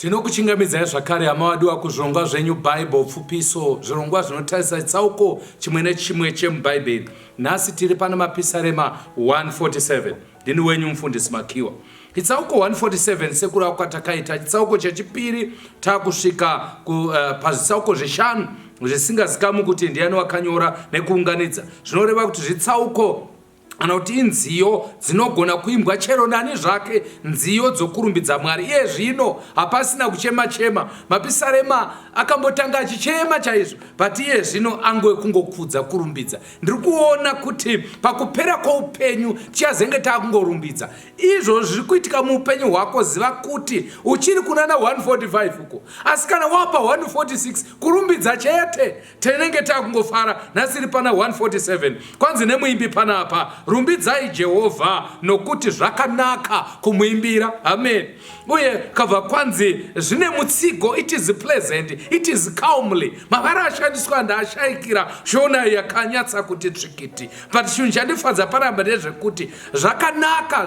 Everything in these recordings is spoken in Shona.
Tinokuchingamidzai zvakare hama wadiwa kuzvirongwa zvenyu Bible Pfupiso, zvirongwa zvinotarisa chitsauko chimwe nechimwe chemuBhaibheri. Nhasi tiri pana Mapisarema 147. Ndini wenyu Mufundisi Makiwa. Chitsauko 147 sekurava kwatakaita chitsauko chechipiri takusvika ku, uh, pazvitsauko zvishanu zvisingazikamwi kuti ndiani wakanyora nekuunganidza zvinoreva kuti zvitsauko kana kuti inziyo dzinogona kuimbwa chero nani zvake nziyo dzokurumbidza mwari iye zvino hapasina kuchema chema mapisarema akambotanga achichema chaizvo but iye zvino angoe kungokudza kurumbidza ndiri kuona kuti pakupera kwoupenyu tichazenge taakungorumbidza izvo zviri kuitika muupenyu hwako ziva kuti uchiri kunana 145 uko asi kana wapa 146 kurumbidza chete tinenge takungofara nhasi iri pana 147 kwanzi nemuimbi panapa rumbidzai jehovha nokuti zvakanaka kumuimbira amen uye kabva kwanzi zvine mutsigo it is pleasant it is calmly mavara ashandiswa ndaashaikira shona yakanyatsa kuti tsvikiti but chinhu chandifadza paramba ndezvekuti zvakanaka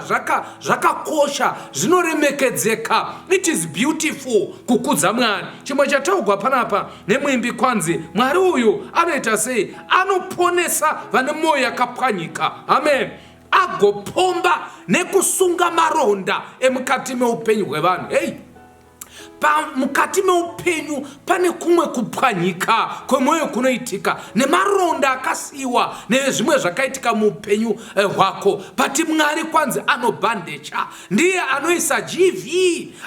zvakakosha zvaka zvinoremekedzeka it is beautiful kukudza mwari chimwe chataugwa panapa Nemwimbi kwanzi Mwari uyu anoita sei? Anoponesa vane mwoyo yakapwanyika. Amen. Agopomba nekusunga maronda emukati meupenyu hwevanhu. Hei, mukati meupenyu pane kumwe kupwanyika kwemwoyo kunoitika nemaronda akasiyiwa nezvimwe zvakaitika muupenyu eh, hwako but mwari kwanzi anobhandecha ndiye anoisa gv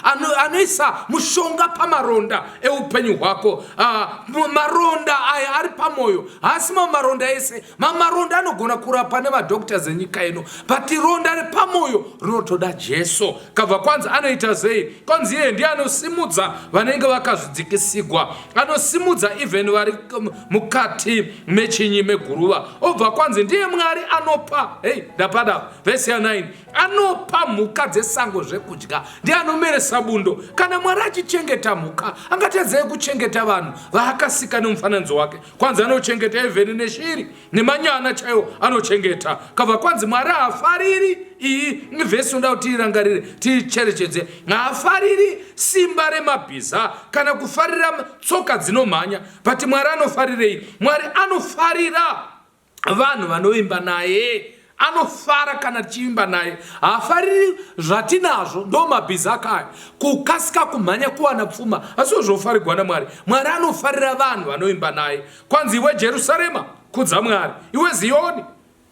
ano, anoisa mushonga pamaronda eupenyu hwako uh, maronda aya ari pamwoyo haasi mamwe maronda ese mamwe maronda anogona kurapa nemadoctors enyika ino but ronda repamwoyo rinotoda jesu kabva kwanzi anoita sei kwanzi iye ndiye anosimudza vanenge vakazvidzikisigwa anosimudza even vari um, mukati mechinyi meguruva obva kwanzi ndiye mwari anopa hei ndapada vhesi ya 9 anopa mhuka dzesango zvekudya ndiye anomeresa bundo kana mwari achichengeta mhuka angatadzei kuchengeta vanhu vaakasika nemufananidzo wake kwanzi anochengeta evheni neshiri nemanyana chaiwo anochengeta kabva kwanzi mwari haafariri iyi ivhesi inoda kuti tiirangarire tiicherechedze haafariri simba remabhiza kana kufarira tsoka dzinomhanya but mwari anofarirei mwari anofarira vanhu vanovimba naye anofara kana tichivimba naye haafariri zvatinazvo ndo mabhizi ake aya kukasika kumhanya kuwana pfuma asiwo zvofarigwa namwari mwari anofarira vanhu vanovimba naye kwanzi iwe jerusarema kudza mwari iwe ziyoni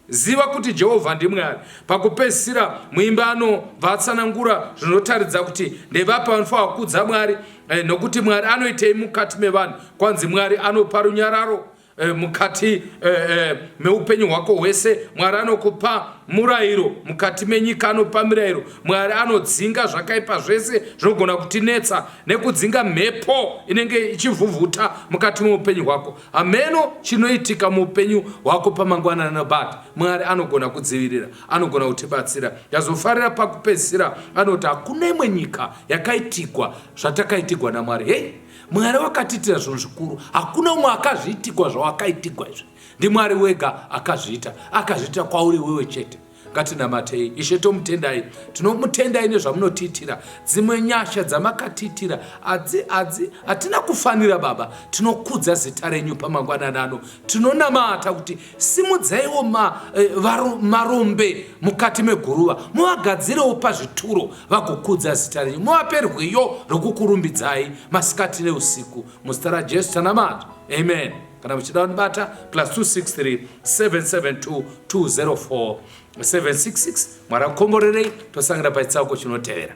ziva kuti jehovha ndimwari pakupedzisira muimba anobva atsanangura zvinotaridza kuti ndevapi vanofanira kukudza mwari eh, nokuti mwari anoitei mukati mevanhu kwanzi mwari anopa runyararo Eh, mukati eh, eh, meupenyu hwako hwese mwari anokupa murayiro mukati menyika anopa mirayiro mwari anodzinga zvakaipa zvese zvinogona kutinetsa nekudzinga mhepo inenge ichivhuvhuta mukati meupenyu hwako hameno chinoitika muupenyu hwako pamangwana nabati mwari anogona kudzivirira anogona kutibatsira yazofarira pakupedzisira anoti hakuna imwe nyika yakaitigwa zvatakaitigwa namwari hei Mwari wakatiitira zvinhu zvikuru. Hakuna umwe akazviitigwa zvawakaitigwa izvi. NdiMwari wega akazviita. Akazviita kwauri wewe chete. Ngatinamatei. Ishe tomutendai. Tinomutendai nezvamunotiitira. Dzimwe nyasha dzamakatiitira hatina kufanira baba. Tinokudza zita renyu pamangwanani ano. Tinonamata kuti Simudzaiwo ma, eh, varo, marombe mukati meguruva, muvagadzirewo pazvituro vagokudza zita renyu, muvape rwiyo rwokukurumbidzai masikati neusiku. Muzita raJesu tanamata, amen. Kana muchida kunibata plus 263 772 204 766 mwari akukomborerei tosangira pachitsauko chinotevera.